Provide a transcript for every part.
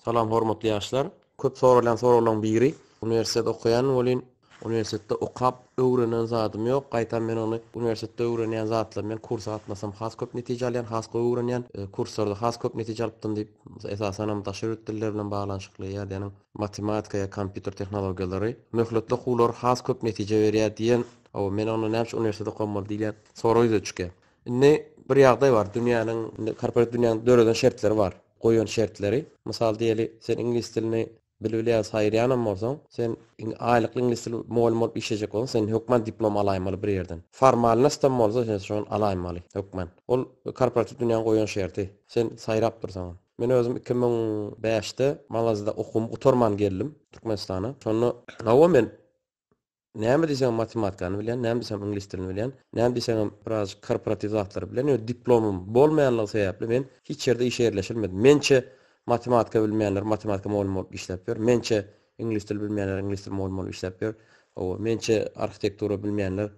Salam hormatly ýaşlar. Köp soralýan soraglaň biri. Uniwersitet okaýan welin uniwersitetde okap öwrenen zadym ýok. Gaýtam men ony uniwersitetde öwrenýän zatlarymy men kursa gatnasam has köp netije alýan, has gowy öwrenýän. Kurslarda has köp netije alypdym diýip, esasanam daşary ýurt dilleri bilen baglanyşykly ýadäniň matematika ýa kompýuter tehnologiýalary, möhletli okuwlar has köp netije berýär diýen. Hawa, men onda näme üçin uniwersitet okamaly diýilýän sorag ýüze çykýar. Indi bir ýagdaý bar, dünýäniň, korporativ dünýäniň döreden şertleri bar. goýan şertleri, mysal diýeli, sen iňlis dilini bilbilýän, saýylýanam bolsaň, sen aýlykly iňlis dil mugallymy bolup işlejek bolsaň, sen hökman diplom alaýmaly bir ýerden. Formalnostam bolsa sen şony alaýmaly hökman. Ol korporatiw dünýäň goýan şerti. Sen saýrap dursaňam. Men özüm iki müň bäşde Malazyýada okuwymy gutarman geldim Türkmenistana. Şonda, hawa, men näme diýseňem matematikany bilýän, näme diýseňem iňlis dilini bilýän, näme diýseňem birazajyk korporatiw zatlary bilýän, ýöne diplomym bolmaýanlygy sebäpli men hiç ýerde işe ýerleşilmedim. Mençe, matematika bilmeýänler matematika mugallymy bolup işläp ýör. Mençe, iňlis dili bilmeýänler iňlis dili mugallymy bolup işläp ýör. Hawa, mençe, arhitektura bilmeýänler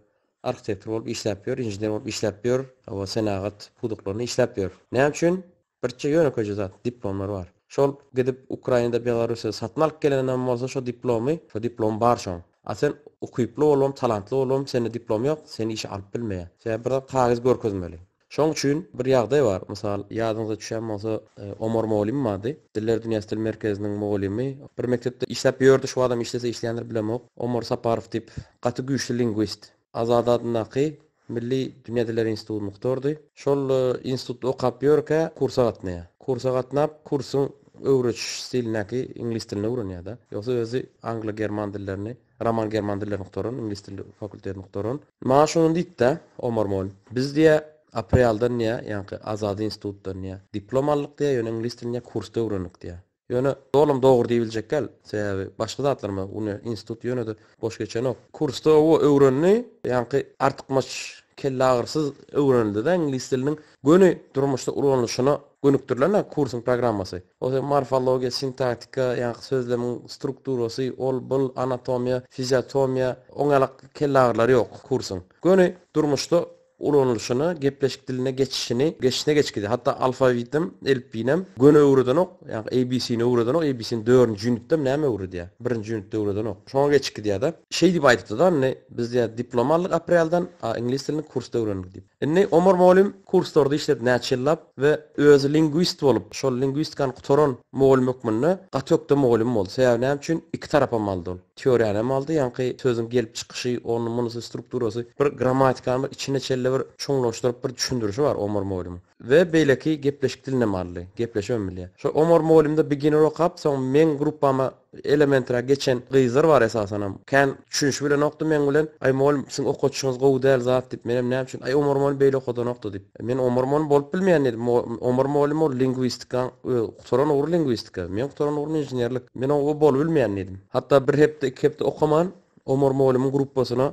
arhitektor bolup işläp ýör, inžener bolup işläp ýör, hawa, senagat pudaklarynda işläp ýör. Näme üçin? Birçe ýönekeje zat, diplomlar bar. Şol gidip Ukrainada Belarusýada satyn alyp geleninem bolsa şo diplomy, şo diplom bar şoň. A sen ukyply bolubam, talantly bolubam sende diplom ýok, seni işe alyp bilmeýär. Sebäbi bir zat kagyz görkezmeli. Şoň üçin bir ýagdaý bar, mysal, ýadyňyza düşýän bolsa Omar mugallym bardy, Diller dünýäsi dil merkeziniň mugallymy. Bir mekdepde işläp ýördi, şu wagtam işlese işleýändir bilemok. Omar Saparow diýip, gaty güýçli lingwist. Azady adyndaky Milli Binediler instituty muhtardy. Şol institutda okap ýörkä kursa gatnaýar. Kursa gatnap, kursuň öwretiş stilindäki iňlis dilini öwrenýär-de. Ýogsa özi anglo-german dillerini, roman-german dillerini gutaran, iňlis dili fakultetini gutaran. Maňa şondan diýipdi-ä Omar mugallym. Biz diýýär, Aprealdan diýýär, ýaňky Azady institutdan diýýär, diplom aldyk diýýär, ýöne iňlis dilini diýýär kursda öwrendik diýýär. Ýöne dolym dogry diýibiljek däl, sebäbi başga zatlar ma uni institut ýöne-de boş geçenok. Kursda oba öwrendi, ýaňky artykmaç kelleagyrysyz öwrenildi-de iňlis diliniň göni durmuşda ulanylyşyna gönükdirilen-ä kursuň programmasy. Ol hem morfologiýa, sintaktika, ýaňky sözlemiň strukturasy, ol-bul, anatomiýa, fiziatomiýa, oňaýlak kelleagyrylary ýok kursuň. Göni durmuşda ulanylyşyna, gepleşik diline geçişini geçişine geçgidi. Hatda alfawitinem, elipbiýinem göni öwredenok, ýagny ABC-ni öwredenok, ABC-ni dördünji ýunitdem näme öwredýär, birinji ýunitde öwredenok. Şoňa geçgidýär-de. Şeý diýip aýdypdy-da, indi biz diýýär diplom aldyk aprelden, a iňlis dilini kursda öwrendik diýip. Indi Omar mugallym kurslarda işledi näçe ýyllap we özi lingwist bolup, şol lingwistikany gutaran mugallym hökmünde gaty ökde mugallym boldy. Sebäbi näme üçin? Iki tarapam aldy ol. Teoriýanam aldy, ýaňky sözüň gelip çykyşy, ony, munusy, strukturasy, bir grammatikany bir içine çenli bir çuňlaşdyryp bir düşündirişi bar Omar mugallymyň. We beýleki gepleşik dilinäm aldy. Gepleşibem bilýär. Şo Omar mugallymda beginner okap, soň meň gruppama elementary geçen gyzlar bar esasanam. Kän düşünişip bilenokdy meň bilen. Aý mugallym, siziň okadyşyňyz gowy däl zat diýip, menem näme üçin, aý Omar mugallym beýle okadanokdy diýip. Men Omar mugallym bolup bilmeýän diýdim. Omar mugallym ol lingwistikaň Gutaran ugry lingwistika, men gutaran ugrym inženerlik. Men o bolup bilmeýän diýdim. Hatda bir hepde, iki hepde okaman, Omar mugallymyň gruppasyna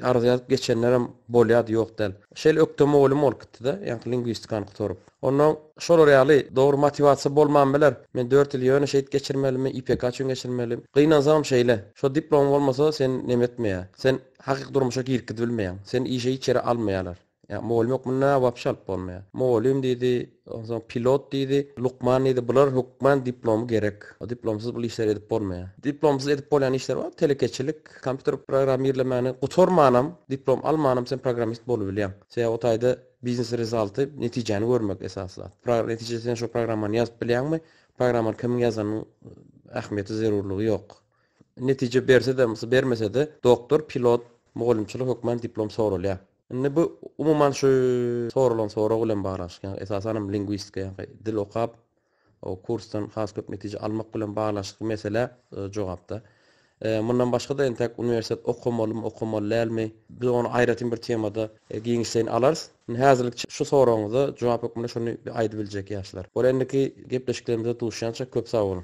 arza ýazyp geçenlerem bolýardy, ýok däl. Şeýle ökde mugallym bolup gitdi-de, ýaňky lingwistikany gutaryp. Onda şolar ýaly, dogry motiwasiýa bolman biler. Men dört ýyl ýöne şeýdip geçirmelimi, YPK üçin geçirmeli. Gynansagam şeýle. Şo diplomy bolmasa, seni nemetmeýär. Sen hakyky durmuşa girkizbilmeýäň. Seni işe hiç ýere almaýarlar. Ýa mugallym ýok munda wapşe alyp bolmaýar. Mugallym diýdi, onsoň pilot diýdi, lukman diýdi, bular hökman diplomy gerek. Diplomsyz bul işleri edip bolmaýar. Diplomsyz edip bolýan işler bar, telekeçilik, kompýuter programmirlemäni gutarmanam, diplom almanam sen programmist bolubilýäň. Sebäbi o taýda biznes rezalty, netijäni görmek esasy zat. Pro netijede sen şo programmany ýazyp bilýäňmi? Programmany kimiň ýazanynyň ähmiýeti, zerurlygy ýok. Netije berse-de, bermese-de doktor, pilot, mugallymçylyk hökman diplom soralýar. Indi bu umuman şu soralan sorag bilen baglanyşykly. Ýagny esasan hem lingwistika ýa-da dil okap o kursdan has köp netije almak bilen baglanyşykly meselä jogapda. Mundan başga-da entek uniwersitet okamalymy, okamaly dälmi? Biz ony aýratyn bir temada giňişleýin alarys. Indi häzirlik şu soragyňyza jogap hökmünde şuny aýdyp biljek ýaşlar. Ol endiki gepleşiklerimizde duşýança köp sag boluň.